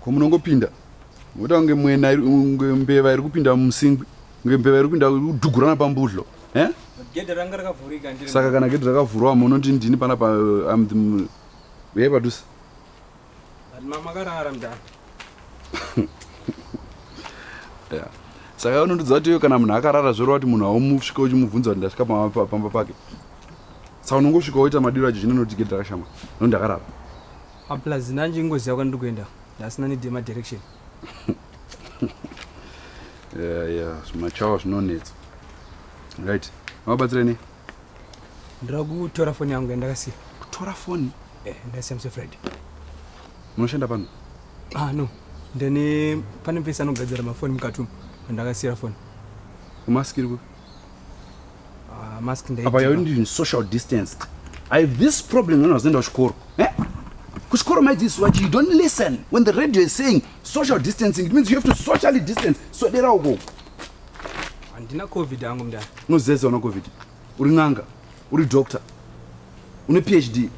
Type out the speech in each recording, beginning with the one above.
ko munongopinda moita kunge mwena unge mbeva iri kupinda mumusingwi unge mbeva iri kupinda udhugurana pambudlo eh? saka kana gedhi rakavhurwa munoti ndini pana pa am ye padhusa yeah saka unondiudza kuti iwe kana munhu akarara zvoreva kuti munhu haumusvika uchimubvunza kuti ndasvika pamba pake saka unongosvika woita madiro acho zvino notigedhi rakashama no ndakarara Ah, plus nanje ingoziva kwandiri kuenda ndasina need yema direction yeah, yeah. zvimachawa zvinonetsa right mabatsire nei ndira kutora foni yangu yandakasiya kutora foni eh, ndasiya muse friday munoshanda pano ah no ndine pane mfesi anogadzira mafoni mukati umu andakasiyira foni umaskiri kupi apa yauri ndiri social distanced i have this problem when wazoenda kuchikoro eh? kuchikoro maidzidziswa chi you don't listen when the radio is saying social distancing it means you have to socially distance swedera uko handina covid angu mdani unozeza una covid uri n'anga uri doctor une phd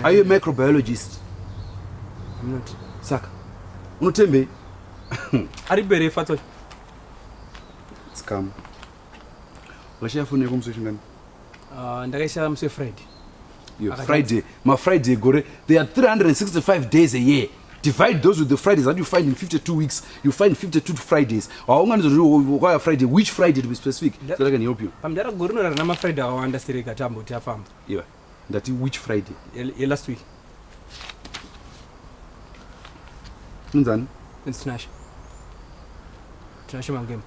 are you a microbiologist saka unotembei ari bere fatsoy Tsikamu. Washaya foni yako musi wechingani? Uh, ndakaishaya musi wefriday. Yo, Friday, my Friday gore, there are 365 days a year. Divide those with the Fridays that you find in 52 weeks. You find 52 Fridays. Waunganidzo riri kwaya Friday, which Friday to be specific, so that I can help you. Pamdara gore unorara nama Friday awanda sireka tambo tiafamba. Iwe. ndati which friday ye last week munzani tinashe tinashe mangema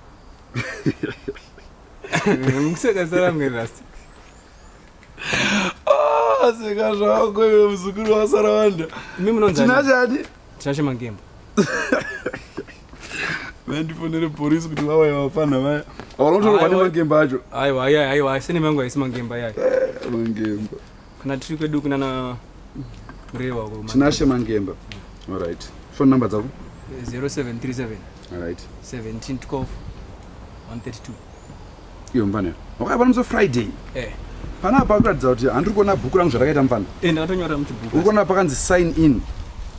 mukuseka saramwe last aseka ah, zvako iwe muzukuru wasara wanda imi munonzani tinashani Tinashe Mangembo. Vandifonere police kuti vauye vafana vaya. Vanotorwa Aiwa. nemangemba acho. Aiwa, aiwa, aiwa, sene mangu haisi Mangembo ayaya. Mangemba. Kana tiri kwedu kunana Murehwa uko. Tinashe Mangemba. All right. Phone number dzako? 0737 All right. 17 12 132. iyo mfana wakaipa nemusi friday eh. panapa pakuratidza kuti handiri kuona bhuku rangu zvarakaita mfana eh, ndakatonyora muchibhuku uri kuona pakanzi sign in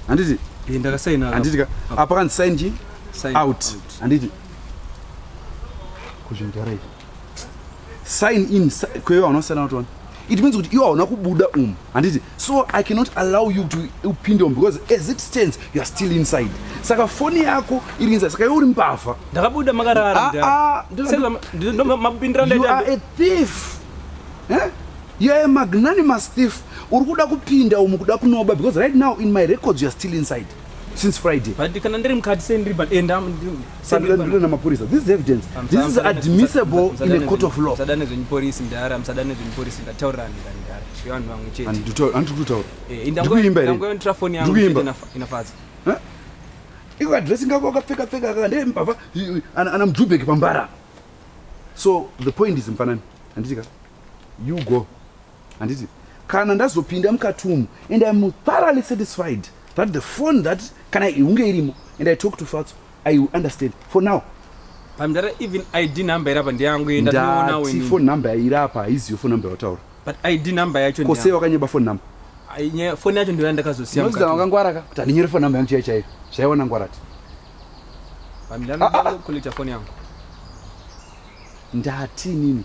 handiti eh, ndakasaina handiti ka apa ah, pakanzi sign chi out handiti kuzvimudhara izvi sign in kwewe hauna kusiyana notona it means kuti iwe hauna kubuda umu handiti so i cannot allow you to upinde umu because as it stands you are still inside saka foni yako iri inside saka iwe uri mbavha ndakabuda makarara ah, ah, a thief eh? you are a magnanimous thief uri kuda kupinda umu kuda kunoba because right now in my records you are still inside since Friday. But kana ndiri mukati sei ndiri but enda ndiri na mapurisa. This is evidence. I'm, This I'm, is admissible I'm, in a court of law. Sadane zvenyu police mdara, msadane zvenyu police ndataurira ndira ndara. Zvivanhu vamwe chete. And to and to tell. Eh, ndango ndango ntra phone yangu chete inafadza. Huh? Iko address ngako akapfeka pfeka aka ndee mbava ana mjubeki pambara. So the point is mfanani. Andika. You go. handiti kana ndazopinda mukati umu and im thoroughly satisfied that the phone that kana ihunge irimo and i talk to fatso i will understand for now pamdara even id number irapa ndeyangu yendati phone number yairapa haiziyo phone number yawataura but id number yacho ko sei wakanyeba phone number phone yacho ndoya ndakazosia nozida wakangwaraka kuti handinyore phone number yangu chaiyo chaiyo zvaiona ngwarati pamdara ah, ah, ah. koleta phone yangu ndati nini